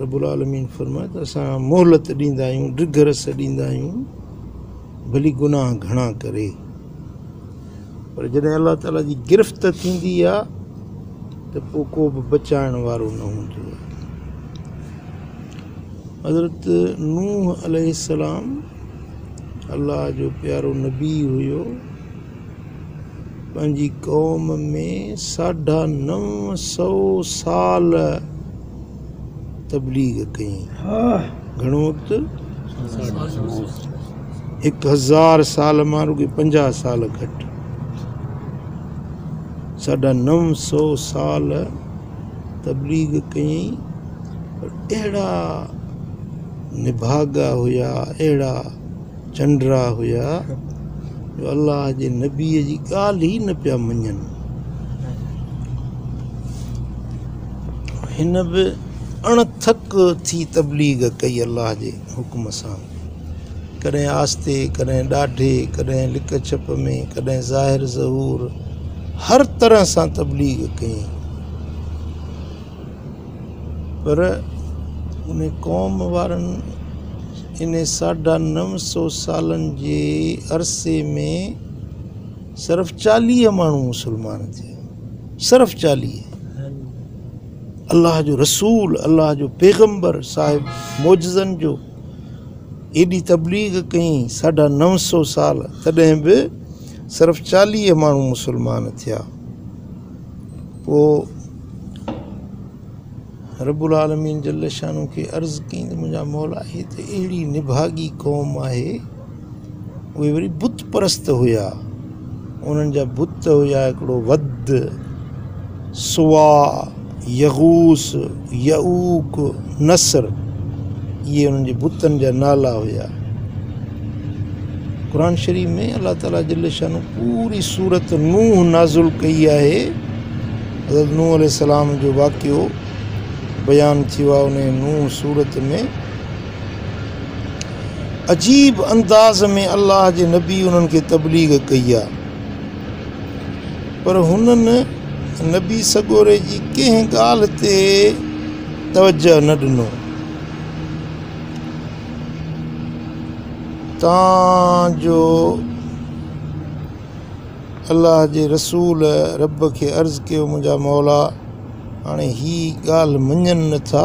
رب العالمين فرمائي ته اسان مهلت ڏيندا آهيون، ڊگهه رس ڏيندا آهيون، ڀلي گناهه گهڻا ڪري. پر جڏهن الله تعاليٰ جي گرفت ٿيندي آ ته پوء ڪو به بچائڻ وارو نه هوندو آ. حضرت نوح عليه السلام الله جو پيارو نبي هيو. پنهنجي قوم ۾ ساڍا نو سؤ سال تبليغ ڪئي. گهڻو وقت؟ هڪ هزار سال مان رڳي پنجاهه سال گهٽ. ساڍا نو سؤ سال تبليغ ڪئي پر اهڙا نڀاڳا هيا، اهڙا چنڊرا هيا جو الله جي نبيء جي ڳالهه ئي نه پيا مڃن. هن به اڻ ٿڪ ٿي تبليغ ڪئي الله جي حڪم سان. ڪڏهن آستي، ڪڏهن ڏاڍي، ڪڏهن لڪ ڇپ ۾، ڪڏهن ظاهر ظهور، هر طرح سان تبليغ ڪيائين. پر ان قوم وارن ان ساڍا نو سو سالن جي عرصي ۾ صرف چاليهه ماڻهو مسلمان ٿيا صرف چاليهه الله جو رسول الله جو پيغمبر صاحب معجزن جو ايڏي تبليغ ڪئي ساڍا نو سو سال تڏهن به صرف چاليهه ماڻهو مسلمان ٿيا پوء رب العالمين جل شانه کي عرض ڪيائين ته منهنجا مولا هي ته اهڙي نڀاڳي قوم آهي اهي وري بت پرست هيا انهن جا بت هيا هڪڙو ود سواع يغوث يعوق، نصر، اهي انهن جي بتن جا نالا هيا. قرآن شريف ۾ الله تعالي جل شانه پوري سورت نوح نازل ڪئي آهي حضرت نوح عليه السلام جو واقعو بيان ٿيو آهي ان نوح سورت ۾ عجيب انداز ۾ الله جي نبي انهن کي تبليغ ڪئي آهي پر هنن نبي سڳوري جي ڪنهن ڳالهه تي توجهه نه ڏنو، تان جو الله جي رسول رب کي عرض ڪيو، منهنجا مولا! هاڻي هي ڳالهه مڃن نه ٿا.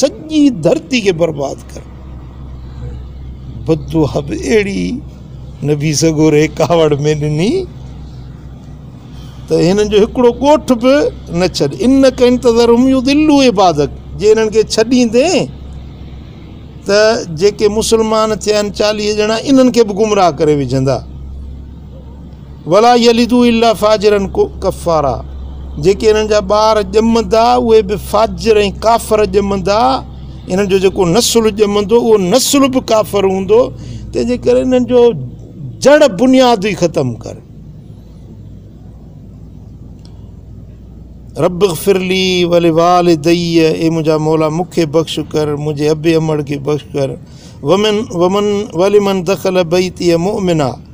سڄي ڌرتي کي برباد ڪر. بدوحا به اهڙي نبي سڳوري ڪاوڙ ۾ ڏني ته هنن جو هڪڙو ڳوٺ به نه ڇڏ انڪ ان تذرهم يضلوا عبادڪ جي انهن کي ڇڏيندين ته جيڪي مسلمان ٿيا آهن چاليهه ڄڻا انهن کي به گمراهه ڪري وجهندا. ولا يلدو الا فاجرا ڪفارا جيڪي انهن جا ٻار ڄمندا اهي به فاجر ۽ ڪافر ڄمندا انهن جو جيڪو نسل ڄمندو اهو نسل به ڪافر هوندو تنهن جي ڪري انهن جو جڙ بنياد ئي ختم ڪر رب اغفر لي ولوالدي اي منهنجا مولا مونکي بخش ڪر منهنجي ابي امڙ کي بخش ڪر ومن ومن ولمن دخل بيتي مؤمنا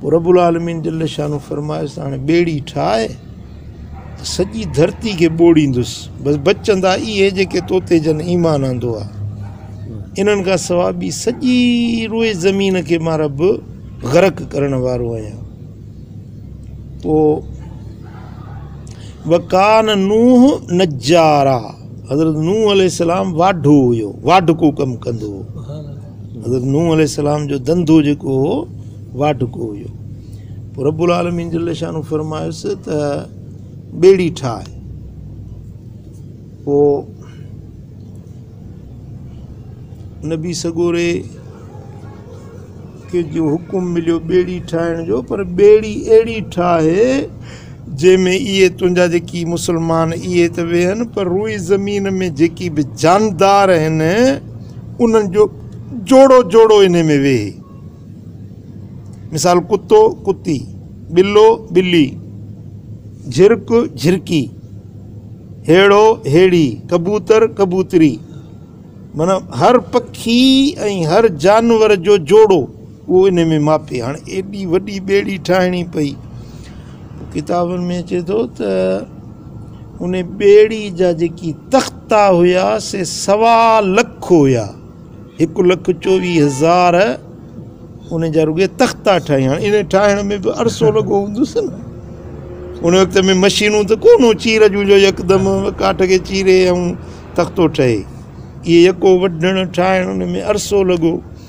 پوء رب العالمين جل شانه فرمايس ته هاڻي ٻيڙي ٺاهه ته سڄي ڌرتي کي ٻوڙيندس بس بچندا اهي جيڪي تو تي جن ايمان آندو آ انهن کان سوا ٻي سڄي روئي زمين کي مان رب غرق ڪرڻ وارو آهيان پوء وڪان نوح نجارا حضرت نوح عليه السلام واڍو هيو واڍڪو ڪم ڪندو هو حضرت نوح عليه السلام جو ڌنڌو جيڪو هو واڍڪو هيو پوء رب العالمين جل شانه فرمايس ته ٻيڙي ٺاهه پوء نبي سڳوري کي جو حڪم مليو ٻيڙي ٺاهڻ جو پر ٻيڙي اهڙي ٺاهي جنهن ۾ اهي تنهنجا جيڪي مسلمان اهي ته ويهن پر روئي زمين ۾ جيڪي به جاندار آهن انهن جو جوڙو جوڙو انهي ۾ ويهي مثال ڪتو ڪتي ٻلو ٻلي جھرڪ جھرڪي هيڙو هيڙي ڪبوتر ڪبوتري معنيٰ هر پکي ۽ هر جانور جو جوڙو پوء انهيء ۾ ماپي هاڻ ايڏي وڏي ٻيڙي ٺاهڻي پئي. پوء ڪتابن ۾ اچي ٿو ته ان ٻيڙي جا جيڪي تختا هيا سي سوا لک هيا. هڪ لک چوويهه هزار ان جا رڳي تختا ٺاهي. هاڻ ان ٺاهڻ ۾ به عرصو لڳو هوندس نه. ان وقت ۾ مشينون ته ڪونه هو چير جون جو يڪدم ڪاٺ کي چيري ۽ تختو ٺهي. اهي يڪو وڍڻ ٺاهڻ ان ۾ عرصو لڳو.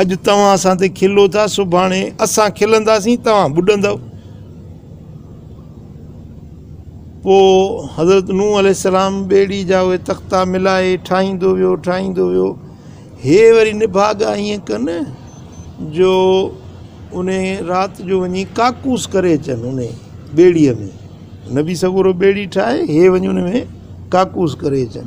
اڄ توهان اسان تي کلو ٿا سڀاڻي اسان کلنداسين توهان ٻڏندؤ پوء حضرت نوح عليه السلام ٻيڙي جا اهي تختا ملائي ٺاهيندو ويو ٺاهيندو ويو هي وري نڀاڳا ائين ڪن جو ان رات جو وڃي ڪاڪوس ڪري اچن ان ٻيڙيء ۾ نبي سڳورو ٻيڙي ٺاهي هي وڃي ان ۾ ڪاڪوس ڪري اچن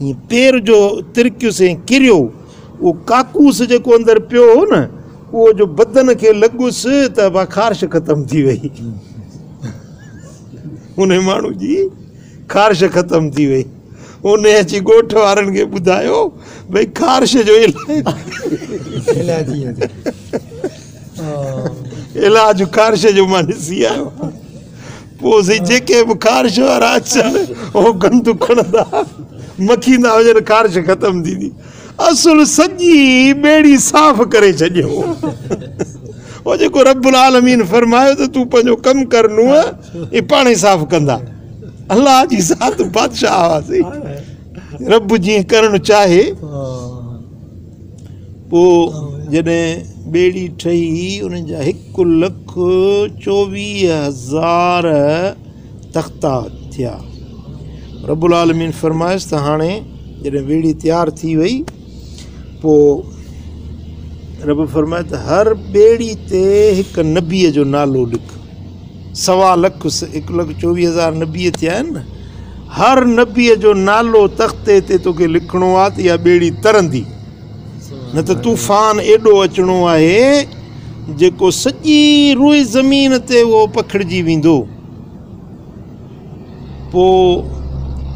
ائين پير جو ترڪيس ۽ ڪريو. اهو ڪاڪوس جيڪو اندر پيو هو نه، اهو جو بدن کي لڳس ته اڀا خارش ختم ٿي وئي. انهيء ماڻهوء جي خارش ختم ٿي وئي. انهيء اچي ڳوٺ وارن کي ٻڌايو، ڀئي خارش جو علاج خارش جو مان ڏسي آيو آهيان. پوء سائين جيڪي به خارش وارا اچن اهو گند کڻندا مکيندا وڃن خارش ختم ٿيندي اصل سڄي ٻيڙي صاف ڪري ڇڏيو او جيڪو رب العالمين فرمايو ته تون پنهنجو ڪم ڪر نوح اي پاڻي صاف ڪندا الله جي ذات بادشاهه آسي رب جيئن ڪرڻ چاهي پوء جڏهن ٻيڙي ٺهي، ان جا هڪ لک چوويهه هزار تختا ٿيا. رب العالمين فرمايس ته هاڻي جڏهن ٻيڙي تيار ٿي وئي، پوء رب فرمايو ته هر ٻيڙي تي هڪ نبيء جو نالو لک. سوا لک هڪ لک چوويهه هزار نبي ٿيا آهن نه هر نبي جو نالو تختي تي توکي لکڻو آهي ته اها ٻيڙي ترندي نه ته طوفان ايڏو اچڻو آهي جيڪو سڄي روئي زمين تي اهو پکڙجي ويندو پوء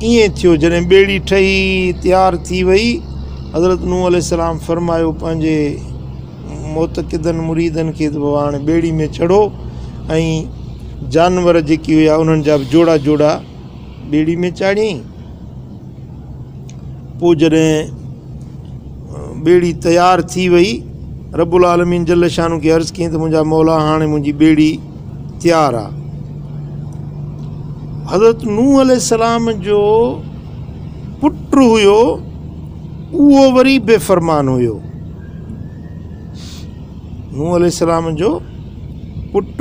ائين ٿيو، جڏهن ٻيڙي ٺهي تيار ٿي ويئي، حضرت نوح عليه السلام فرمايو پنهنجي معتقدن مريدن کي ته بابا هاڻي ٻيڙي ۾ چڙهو ۽ جانور جيڪي هيا انهن جا به جوڙا جوڙا ٻيڙي ۾ چاڙهيائين. پوء جڏهن ٻيڙي تيار ٿي ويئي، رب العالمين جل شانه کي عرض ڪيائين ته منهنجا مولا هاڻي منهنجي ٻيڙي تيار آ. حضرت نوح عليه السلام جو پٽ هيو اهو وري بي فرمان هيو. نوح عليه السلام جو پٽ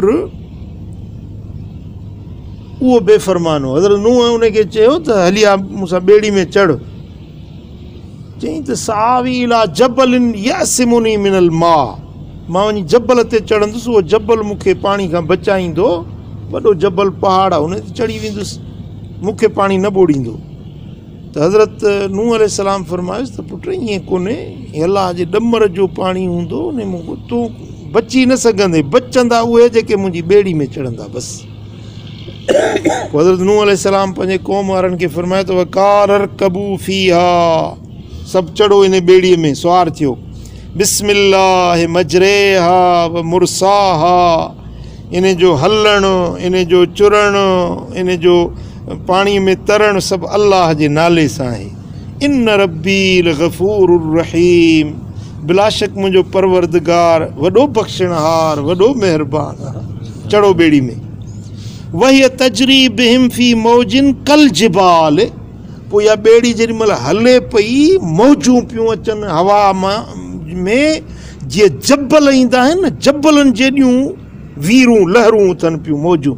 اهو بي فرمان هو حضرت نوح ان کي چيو ته هليا مون سان ٻيڙي ۾ چڙهه چيائين ته سآوي اليٰ جبل يعصمني من الماء مان وڃي جبل تي چڙهندس اهو جبل مون کي پاڻي کان بچائيندو وڏو جبل پهاڙ آهي ان تي چڙهي ويندس مون کي پاڻي نه ٻوڙيندو ته حضرت نوح عليه السلام فرمايس ته پٽ ائين ڪونهي الله جي ڏمر جو پاڻي هوندو ان مون تون بچي نه سگهندين بچندا اهي جيڪي منهنجي ٻيڙي ۾ چڙهندا بس پوء حضرت نوح عليه السلام پنهنجي قوم وارن کي فرمايو ته وقال ارڪبوا فيها سڀ چڙهو ان ٻيڙيء ۾ سوار ٿيو بسم الله مجريها ومرساها ان جو هلڻ ان جو چرڻ ان جو پاڻي ۾ ترڻ سڀ الله جي نالي سان آهي ان ربي لغفور رحيم بلاشڪ منهنجو پروردگار وڏو بخشڻهار وڏو مهربان آهي چڙهو ٻيڙي ۾ وهي تجري بهم في موج ڪل جبال پوء اها ٻيڙي جيڏي مهل هلي پئي موجون پيون اچن هوا ۾ جيئن جبل ايندا آهن جبلن جيڏيون ويرون لهرون اٿن پيون موجون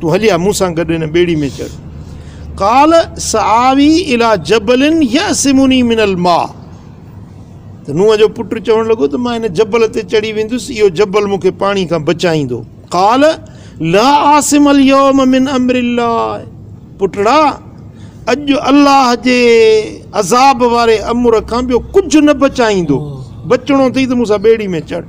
تون هلي آ مون سان گڏ هن ٻيڙي ۾ چڙهه. قال سآوي الي جبل يعصمني من الماء ته نوح جو پٽ چوڻ لڳو ته مان هن جبل تي چڙهي ويندس اهو جبل مون کي پاڻي کان بچائيندو قال لا عاصم اليوم من امر الله پٽڙا اڄ الله جي عذاب واري امر کان ٻيو ڪجهه نه بچائيندو بچڻو اٿئي ته مون سان ٻيڙي ۾ چڙهه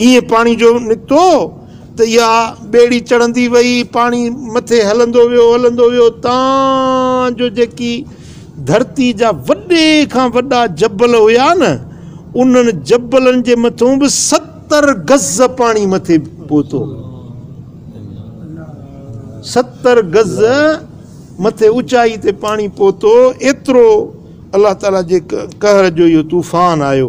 ائين پاڻي جو نڪتو ته اها ٻيڙي چڙهندي وئي، پاڻي مٿي هلندو ويو، هلندو ويو تان جو جيڪي ڌرتي جا وڏي کان وڏا جبل هيا نه، انهن جبلن جي مٿئون به ستر گز پاڻي مٿي پهتو. ستر گز مٿي اوچائي تي پاڻي پهتو، ايترو الله تعاليٰ جي قهر جو اهو طوفان آيو.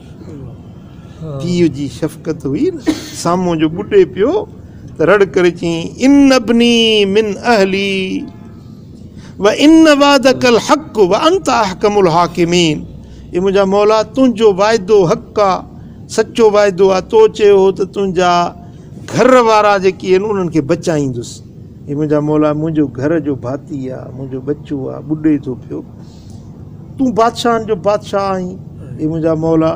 پيء جي شفقت هئي نه سامهون جو ٻڏي پيو ته رڙ ڪري چيائين ان ابني من اهلي وان وعدک الحق وانت احڪم الحاڪمين اي منهنجا مولا تنهنجو وعدو حق آ سچو وعدو آ تو چيو هو ته تنهنجا گهر وارا جيڪي آهن انهن کي بچائيندس اي منهنجا مولا منهنجو گهر جو ڀاتي آ منهنجو ٻچو آ ٻڏي ٿو پيو تون بادشاهن جو بادشاهه آهين، اي منهنجا مولا!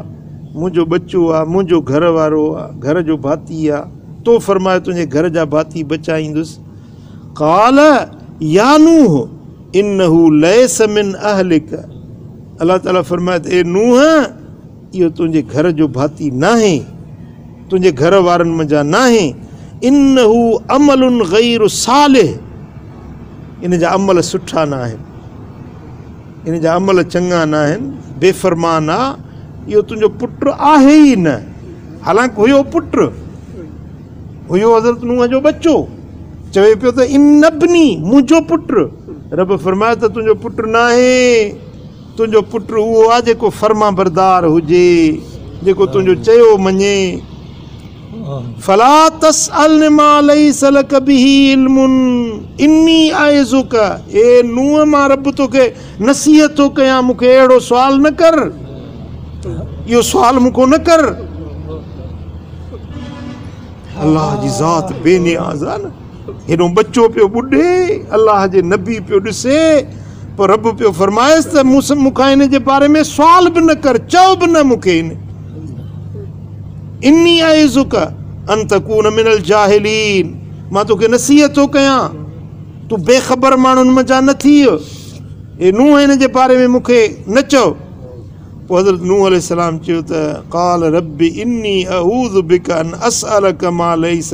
منهنجو ٻچو آ، منهنجو گهر وارو آ، گهر جو ڀاتي آ، تو فرماء تنهنجي گهر جا ڀاتي بچائيندس. قال يا نوح انه ليس من اهلک الله تعالي فرمائي ٿو اي نوح! اهو تنهنجي گهر جو ڀاتي ناهي، تنهنجي گهر وارن منجهان ناهي، انه عمل غير صالح، ان جا عمل سٺا ناهن، ان جا عمل چڱا ناهن، بي فرمان آ، اهو تنهنجو پٽ آهي ئي نه، حالانڪ هيو پٽ، هيو حضرت نوح جو ٻچو، چوي پيو ته ان ابني، منهنجو پٽ، رب فرمايو ته تنهنجو پٽ ناهي. تنهنجو پٽ اهو آهي جيڪو فرمانبردار هجي، جيڪو تنهنجو چيو مڃي. فلا تسألن ما ليس لك به علم اني اعظک، اي نوح مان رب توکي نصيحت ٿو ڪيان مون کي اهڙو سوال نه ڪر، اهو سوال مون کان نه ڪر. الله جي ذات بي نياز آهي. هيڏو ٻچو پيو ٻڏي، الله جي نبي پيو ڏسي، پوء رب پيو فرمائيس ته مون کان ان جي باري ۾ سوال به نه ڪر، چئو به نه مون کي ان اني اعظک ان تڪون من الجاهلين مان توکي نصيحت ٿو ڪيان تون بي خبر ماڻهن منجهان نه ٿيء، اي نوح ان جي باري ۾ مون کي نه چئو. پوء حضرت نوح عليه السلام چيو ته قال رب اني اعوذ بك ان اسالک ما ليس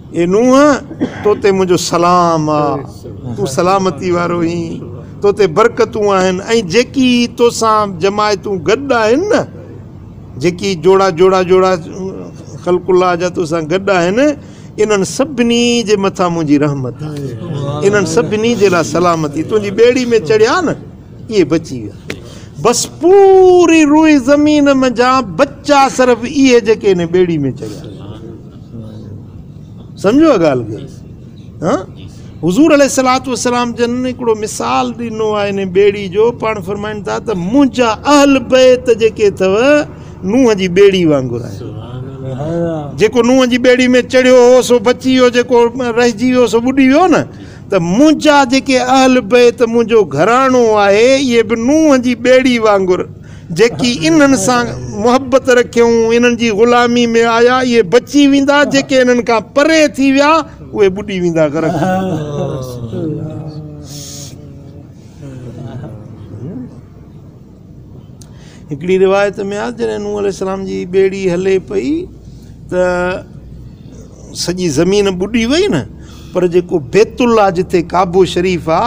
اي نوح! تو تي منهنجو سلام آ، تون سلامتي وارو هين، تو تي برڪتون آهن ۽ جيڪي تو سان جماعتون گڏ آهن نه، جيڪي جوڙا جوڙا جوڙا خلق الله جا تو سان گڏ آهن، انهن سڀني جي مٿان منهنجي رحمت آهي، انهن سڀني جي لاء سلامتي، تنهنجي ٻيڙي ۾ چڙهيا نه، اهي بچي ويا، بس پوري روئي زمين منجهان بچا صرف اهي جيڪي انهي ٻيڙي ۾ چڙهيا. سمجهو ڳالهه کي ها حضور عليه الصلات والسلام جن هڪڙو مثال ڏنو آهي ان ٻيڙي جو پاڻ فرمائن ٿا ته منهنجا اهل بيت جيڪي اٿو نوح جي ٻيڙي وانگر آهن جيڪو نوح جي ٻيڙي ۾ چڙهيو هو سو بچي ويو جيڪو رهجي ويو سو ٻڏي ويو نه ته منهنجا جيڪي اهل بيت منهنجو گهراڻو آهي اهي به نوح جي ٻيڙي وانگر جيڪي انهن سان محبت رکيون، انهن جي غلامي ۾ آيا، اهي بچي ويندا، جيڪي انهن کان پري ٿي ويا، اهي ٻڏي ويندا، غرق ٿي ويندا. هڪڙي روايت ۾ آهي ته جڏهن نوح عليه السلام جي ٻيڙي هلي پئي ته سڄي زمين ٻڏي وئي نه پر جيڪو بيت الله جتي ڪعبو شريف آ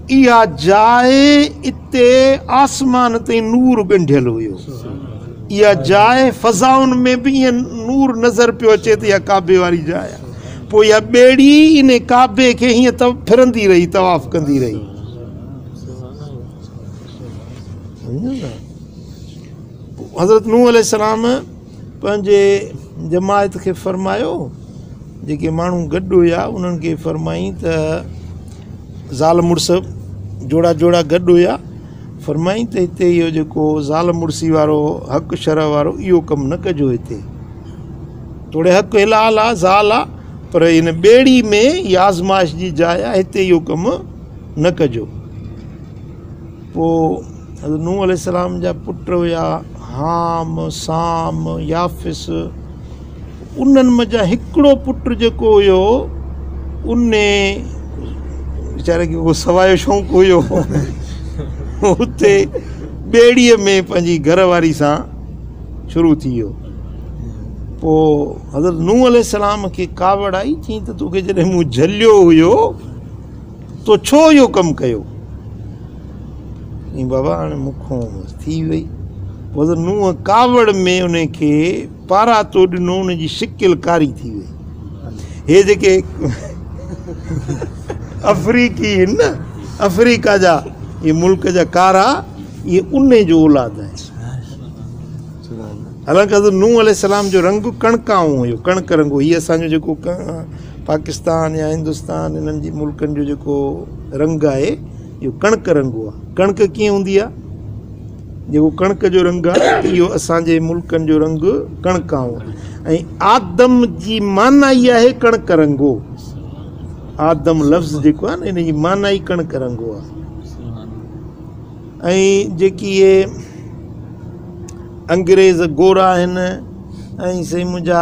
اها جاء اتي آسمان تائين نور ڳنڍيل هيو اها جاء فضائن ۾ به ائين نور نظر پيو اچي ته اها ڪعبي واري جاء آ پوء اها ٻيڙي ان ڪعبي کي هيئن تو ڦرندي رهي طواف ڪندي رهي حضرت نوح عليه السلام پنهنجي جماعت کي فرمايو، جيڪي ماڻهو گڏ هيا، انهن کي فرمائين ته زال مڙس جوڙا جوڙا گڏ هيا، فرمائين ته هتي اهو جيڪو زال مڙسي وارو حق شرع وارو اهو ڪم نه ڪجو هتي. توڙي حق حلال آ زال آ پر هن ٻيڙي ۾ هي آزمائش جي جاء آ هتي اهو ڪم نه ڪجو. پوء حضرت نوح عليه السلام جا پٽ هيا حام، سام، يافث انهن منجهان هڪڙو پٽ جيڪو هيو ان ويچاري کي ڪو سواء جو شوق هيو اتي ٻيڙيء ۾ پنهنجي گهر واري سان شروع ٿي ويو پوء حضرت نوح عليه السلام کي ڪاوڙ آئي چيائين ته توکي جڏهن مون جهليو هيو تو ڇو اهو ڪم ڪيو؟ ۽ بابا هاڻي مون کان بس ٿي وئي. بس نوح ڪاوڙ ۾ ان کي پاراتو ڏنو ان جي شڪل ڪاري ٿي وئي. هي جيڪي افريقي آهن نه افريقا جا هي ملڪ جا ڪارا اهي ان جو اولاد آهن. حالانڪه حضرت نوح عليه السلام جو رنگ ڪڻڪائون هيو ڪڻڪ رنگو هي اسان جو جيڪو پاڪستان يا هندستان انهن جي ملڪن جو جيڪو رنگ آهي اهو ڪڻڪ رنگ هو ڪڻڪ ڪيئن هوندي آهي جيڪو ڪڻڪ جو رنگ آهي اهو اسانجي ملڪن جو رنگ ڪڻڪ آهو ۽ آدم جي معنی ئي آهي ڪڻڪ رنگ هو آدم لفظ جيڪو آهي نه ان جي معنی ئي ڪڻڪ رنگ هو ۽ جيڪي اهي انگريز گورا آهن ۽ سائين منهنجا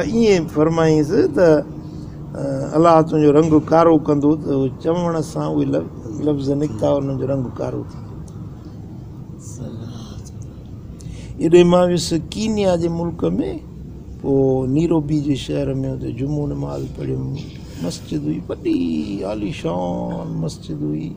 ائين فرمائينس ته الله تنهنجو رنگ ڪارو ڪندو ته چوڻ سان اهي لفظ نڪتا انهن جو رنگ ڪارو ٿي ويو ايڏي مان ويس ڪينيا جي ملڪ ۾ پوء نيروبي جي شهر ۾ اتي جمعو نماز پڙهيم مسجد هئي وڏي عاليشان مسجد هئي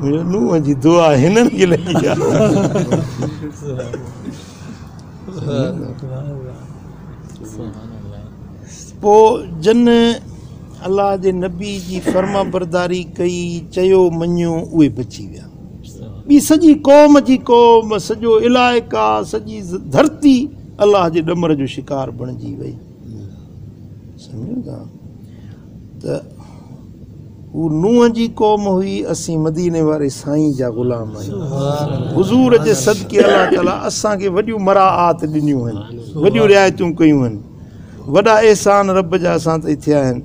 منهنجي نونهن جي دعا هنن کي لڳي آهي. پوء جن الله جي نبي جي فرمانبرداري ڪئي، چيو مڃيو، اهي بچي ويا. ٻي سڄي قوم جي قوم، سڄو علائقا، سڄي ڌرتي الله جي ڏمر جو شڪار بڻجي وئي. سمجهيو ٿا؟ ته هو نوح جي قوم هئي اسين مديني واري سائين جا غلام آهيون حضور جي صدقي الله تعالي اسان کي وڏيون مراعات ڏنيون آهن وڏيون رعايتون ڪيون آهن وڏا احسان رب جا اسان تي ٿيا آهن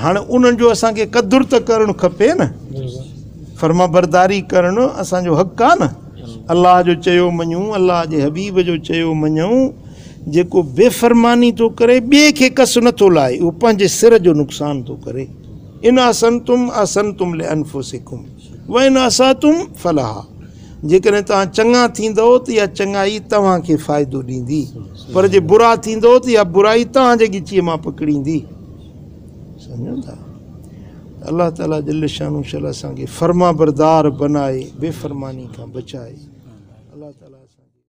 هاڻي انهن جو اسان کي قدر ته ڪرڻ کپي نه فرما برداري ڪرڻ اسانجو حق آهي نه الله جو چيو مڃون الله جي حبيب جو چيو مڃون جيڪو بي فرماني ٿو ڪري، ٻئي کي ڪس نه ٿو لائي، اهو پنهنجي سر جو نقصان ٿو ڪري. ان احسنتم احسنتم لانفسکم وان اساتم فلها جيڪڏهن توهان چڱا ٿيندؤ ته اها چڱائي توهان کي فائدو ڏيندي پر جي برا ٿيندؤ ته اها برائي توهان جي ڳچيء مان پڪڙيندي. سمجهو ٿا؟ الله تعاليٰ جل شانه شل اسان کي فرمانبردار بنائي، بي فرماني کان بچائي. الله تعاليٰ اسان کي.